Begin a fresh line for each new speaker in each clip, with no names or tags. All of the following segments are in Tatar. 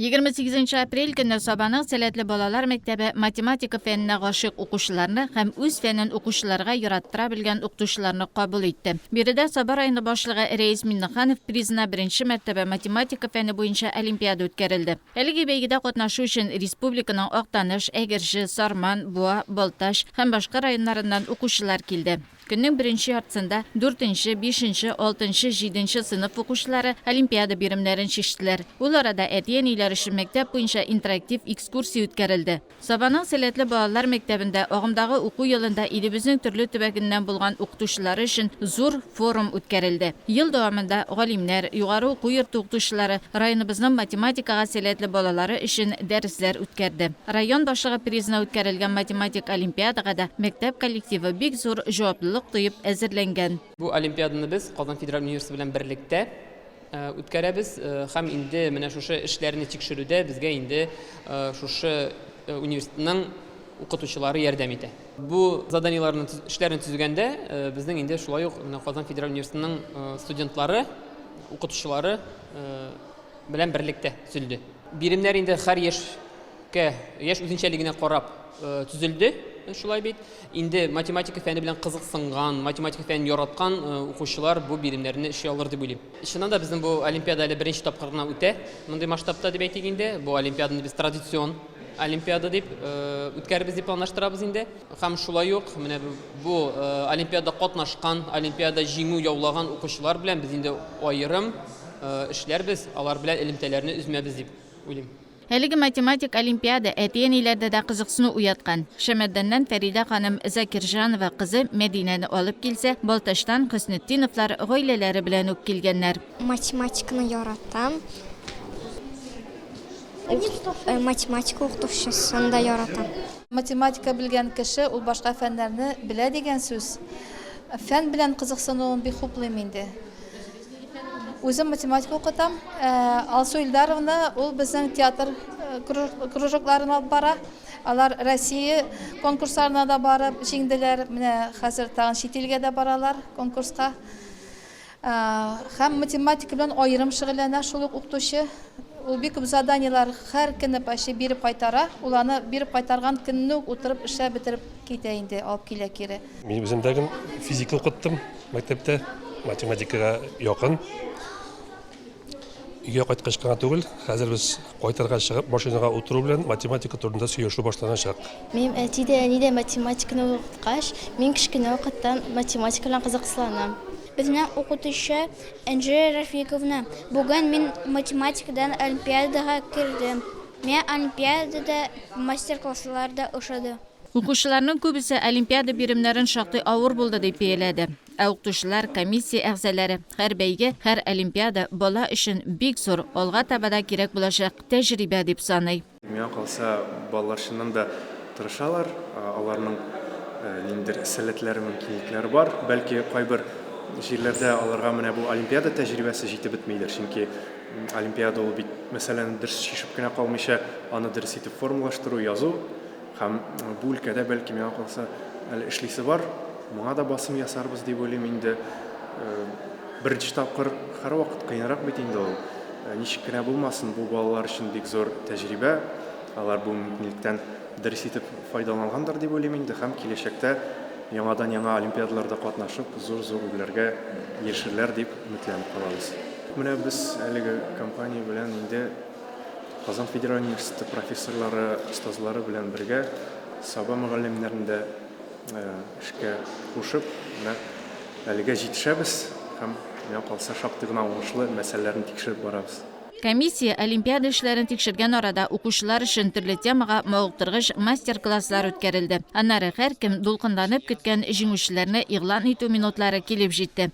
Егерме сигезенче апрель көнне Сабаның сәләтле балалар мәктәбе математика фәненә гашыйк укучыларны һәм үз фәнен укучыларга яраттыра белгән укытучыларны кабул итте. Биредә Саба районы башлыгы Рәис Миннеханов призына беренче мәртәбә математика фәне буенча олимпиада үткәрелде. Әлеге бәйгедә катнашу өчен республиканың Актаныш, Әгерҗе, Сарман, Буа, Балтач һәм башка районнарыннан укучылар килде. Көннең беренче яртысында дүртенче, бишенче, алтынчы, җиденче сыйныф укучылары олимпиада биремнәрен чиштеләр. Ул арада әти-әниләр өчен мәктәп буенча интерактив экскурсия үткәрелде. Сабаның сәләтле балалар мәктәбендә агымдагы уку елында илебезнең төрле төбәгеннән булган укытучылары өчен зур форум үткәрелде. Ел дәвамында галимнәр, югары уку йорты укытучылары районыбызның математикага сәләтле балалары өчен дәресләр үткәрде. Район башлыгы призына үткәрелгән математик олимпиадага да мәктәп коллективы бик зур җаваплылык тоеп әзерләнгән. Бу олимпиаданы
без Казан федераль университеты белән берлектә үткәрәбез һәм инде менә шушы эшләрне тикшерүдә безгә инде шушы университетның укытучылары ярдәм итә. Бу заданиеләрне, эшләрне төзегәндә безнең инде шулай ук менә Казан федераль университетының студентлары, укытучылары, белән берлектә төзелде. Биремнәр инде хәр яшькә, яшь үзенчәлегенә карап төзелде, шулай бит. Инде математика фәне белән кызыксынган, математика фәнен яраткан укучылар бу биремнәрне эшли алыр дип уйлыйм. Чыннан да, безнең бу олимпиада әле беренче тапкыр гына үтә, мондый масштабта дип әйтик инде. Бу олимпиаданы без традицион олимпиада дип үткәрербез дип планлаштырабыз инде. Һәм шулай ук менә бу олимпиада катнашкан, олимпиада җиңү яулаган укучылар белән без инде аерым эшләрбез, алар белән элемтәләрне өзмәбез дип уйлыйм. Әлеге математик
олимпиада әти-әниләрдә дә кызыксыну уяткан. Шәмәрдәннән Фәридә ханым Закирҗанова кызы Мәдинәне алып килсә, Балтачтан Хөснетдиновлар гаиләләре белән үк килгәннәр.
Математиканы яратам. Э, математика укытучысын да яратам. Математика
белгән кеше ул башка фәннәрне белә дигән сүз. Фән белән кызыксынуым бик хуплыйм инде. Үзем математика укытам. Э, Алсу Илдаровна ул безнең театр э, кружокларын алып бара. Алар Россия конкурсларына да барып җиңделәр. Менә хәзер тагын чит илгә дә баралар конкурска. Э, һәм математика белән аерым шөгыльләнә шул ук укытучы. Ул бик күп заданиеләр һәр көнне почти биреп кайтара. Ул аны биреп кайтарган көнне үк утырып эшләп бетереп китә инде, алып килә кире. Мин үзем дә
физика укыттым. мәктәптә, математикага якын. Өйгә кайткач кына түгел, хәзер без кайтырга чыгып машинага утыру белән математика турында сөйләшү башланачак. Минем әти дә,
әни дә математиканы укыткач, мин кечкенә вакыттан математика белән кызыксынам. Безнең
укытучы Энҗе Рәфиковна, бүген мин математикадан олимпиадага кердем. Миңа олимпиадада мастер-класслар да ошады. Укучыларның
күбесе олимпиада биремнәрен шактый авыр булды дип бияләде. Ә укытучылар, комиссия әгъзаләре, Һәр бәйге, һәр олимпиада, бала өчен бик зур, алга таба да кирәк булачак тәҗрибә дип саный. Миңа калса,
балалар чыннан да тырышалар, аларның ниндидер сәләтләре, мөмкинлекләре бар. Бәлки, кайбер җирләрдә аларга менә бу олимпиада тәҗрибәсе җитеп бетмидер, чөнки олимпиада ул бит мәсьәләне дөрес чишеп кенә калмыйча, аны дөрес итеп формалаштыру, язу. Һәм бу өлкәдә, бәлки, миңа калса, әле эшлисе бар. Моңа да басым ясарбыз дип уйлыйм инде. Беренче тапкыр һәрвакыт кыенрак бит инде ул. Ничек кенә булмасын, бу балалар өчен бик зур тәҗрибә. Алар бу мөмкинлектән дөрес итеп файдалангандыр дип уйлыйм инде һәм киләчәктә яңадан-яңа олимпиадаларда катнашып, зур-зур үрләргә ирешерләр дип өметләнеп калабыз. Менә без әлеге компания белән инде Казан федераль университеты профессорлары, остазлары белән бергә Саба мөгаллимнәрен дә эшкә кушып, менә әлегә җитешәбез һәм миңа калса шактый гына уңышлы мәсьәләләрне тикшереп барабыз. Комиссия
олимпиада эшләрен тикшергән арада укучылар өчен төрле темага мавыктыргыч мастер-класслар үткәрелде. Аннары һәркем дулкынланып көткән җиңүчеләрне игълан итү минутлары килеп җитте.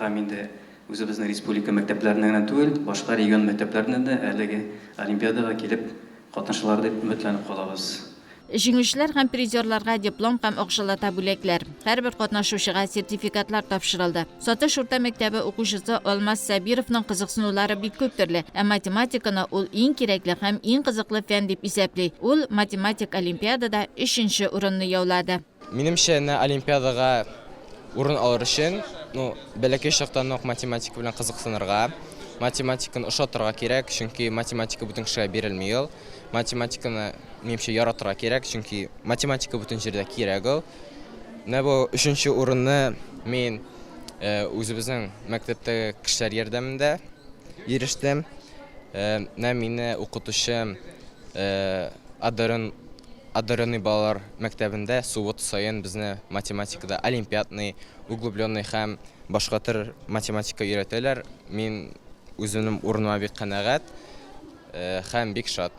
Һәм инде үзебезнең республика мәктәпләренә генә түгел, башка регион мәктәпләреннән дә әлеге олимпиадага килеп катнашалар дип өметләнеп калабыз.
Җиңүчеләр һәм призерларга диплом һәм акчалата бүләкләр, һәрбер катнашучыга сертификатлар тапшырылды. Сатыш урта мәктәбе укучысы Алмаз Сабировның кызыксынулары бик күп төрле, ә математиканы ул иң кирәкле һәм иң кызыклы фән дип исәпли. Ул математик олимпиадада өченче урынны яулады. Минемчә, әнә
олимпиадага урын алыр өчен, ну, бәләкәй чактан ук математика белән кызыксынырга, математиканы ошатырга кирәк, чөнки математика бөтен кешегә бирелми ул. Математиканы, минемчә, яратырга кирәк, чөнки математика бөтен җирдә кирәк ул. Менә бу өченче урынны мин үзебезнең мәктәптәге кешеләр ярдәмендә ирештем. Менә мине укытучым Адырын. Одаренный балалар мәктәбендә суббота саен безне математикада олимпиадный, углубленный һәм башка төр математика өйрәтәләр. Мин үземнең урыныма бик канәгать һәм бик шат.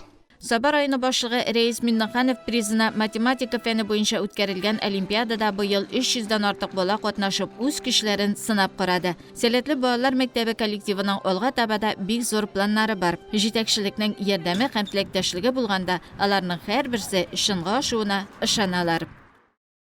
Саба районы
башлыгы Рәис Миннеханов призына математика фәне буенча үткәрелгән олимпиадада быел 300 дән артык бала катнашып, үз көчләрен сынап карады. Сәләтле балалар мәктәбе коллективының алга таба да бик зур планнары бар. Җитәкчелекнең ярдәме һәм теләктәшлеге булганда, аларның һәрберсе чынга ашуына ышаналар.